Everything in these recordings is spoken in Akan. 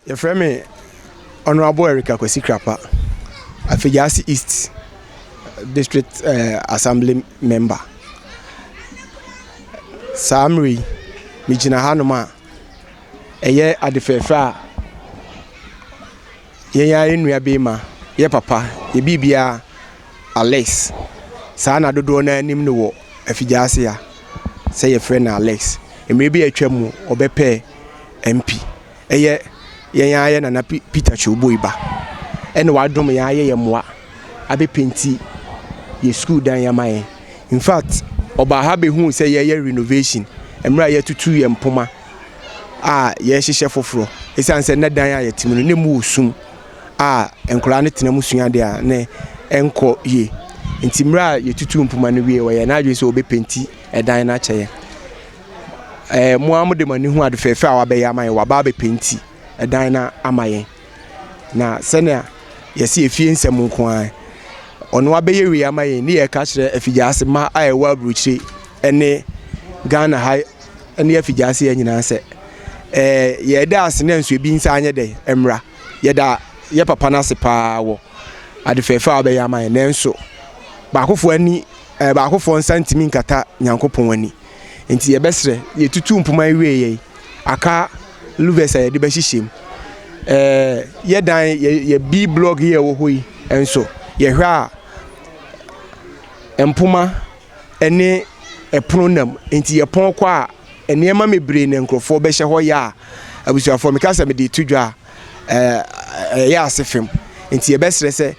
Yɛfrɛ me Honourable Eric Akwasi Krapa, Afegyase East District eh, Assembly Member. Saa mmerɛ yi, megyina hanom a ɛyɛ ade fɛɛfɛ a Yɛn ara yɛn nua bee ma yɛ papa yɛ bii bia Alex saa na dodoɔ naa nim no wɔ afigyase ha sɛ yɛ frɛ no Alex mmere bi a atwa mu ɔbɛ pɛɛ MP ɛyɛ yɛn ara yɛ nana Peter Kyowboi ba ɛna wa dom yɛn ayɛ yɛ moa abɛ penti yɛ school dan yɛ ama yɛn infact ɔbaa ha bɛ hu sɛ yɛ yɛ renovation mmere a yɛ tutu yɛ mpoma. a yɛrehyehyɛ foforɔ. Ɛsiane sɛ na dan a yɛte mu no na ɛmu wɔ sum a nkwadaa no tena mu sua adeɛ a na ɛnkɔ yie. Nti mmerɛ a yɛtutuu mpoma no wieeɛ, ɔyɛɛ n'adwene sɛ ɔbɛpenti dan no akyɛ yɛn. Ɛɛ mo ara mode mo ani hu ade fɛɛfɛ a wabɛyɛ ama yɛn, waba abɛpenti dan no ama yɛn. Na sɛnea yɛsi yɛ fie nsɛm nko ara, ɔno abɛyɛ wei ama yɛn ne yɛka kyerɛ afigyaase ma a ɛwɔ aburokyire ɛne Ghana ha ɛne afigyaase yɛ nyinaa sɛ ɛɛ yɛda ase na nso ebi nsa anyɛ dɛ ɛmra yɛda yɛ papa no ase paa wɔ ade fɛɛfɛ a ɔbɛyɛ ama yɛn nanso baakofoɔ ani ɛɛ baakofoɔ nsa ntumi nkata Nyankopɔn ani. Enti yɛbɛserɛ, yetutuu mpoma yi wiei yi, aka louvers a yɛde bɛhyehyɛ mu. Ɛɛ, yɛ dan, yɛ, yɛ B block yi a ɛwɔ hɔ yi nso, yɛhwɛ a, mpoma ne ɛpono nam. Enti yɛpɔn kɔ a, nneɛma bebree na nkurɔfoɔ bɛhyɛ hɔ yɛ a, abusuafoɔ, meka sɛ mede reto dwa a, ɛɛ, ɛyɛ ase fam. Enti yɛbɛserɛ sɛ.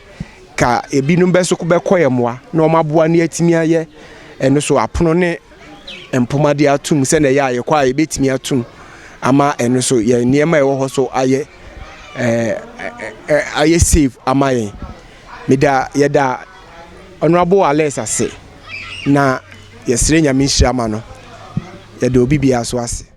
Ka ebinom bɛso bɛkɔ yɛ mmoa na wɔn aboa no atumi ayɛ ɛno so apono ne mpoma de atum sɛnea ɛyɛ a yɛkɔ a yɛbɛtumi atum ama ɛno so yɛn nneɛma a ɛwɔ hɔ so ayɛ ɛɛ ayɛ save ama yɛn meda yɛda honourable alex ase na yɛsrɛ nyame nhyira ma no yɛda obi biara so ase.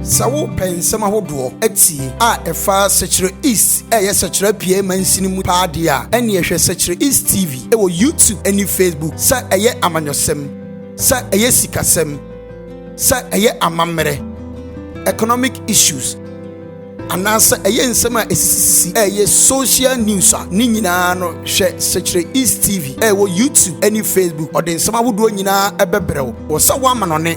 Sɛ wo pɛ nsɛm ahodoɔ atie a ɛfa Sɛkyerɛ East ɛyɛ Sɛkyerɛ Apueɛ mansini mu paa deɛ a, ɛneɛ hwɛ Sɛkyerɛ East TV wɔ YouTube ɛne Facebook, sɛ ɛyɛ amanyɔsɛm, sɛ ɛyɛ sikasɛm, sɛ ɛyɛ amammerɛ, economic issues, anaa sɛ ɛyɛ nsɛm a ɛsisisisi ɛyɛ social news a, ne nyinaa no hwɛ Sɛkyerɛ East TV ɛwɔ YouTube ɛne Facebook, ɔde nsɛm ahodoɔ nyinaa ɛbɛbrɛ wo, wɔ sɛ wo amanɔne.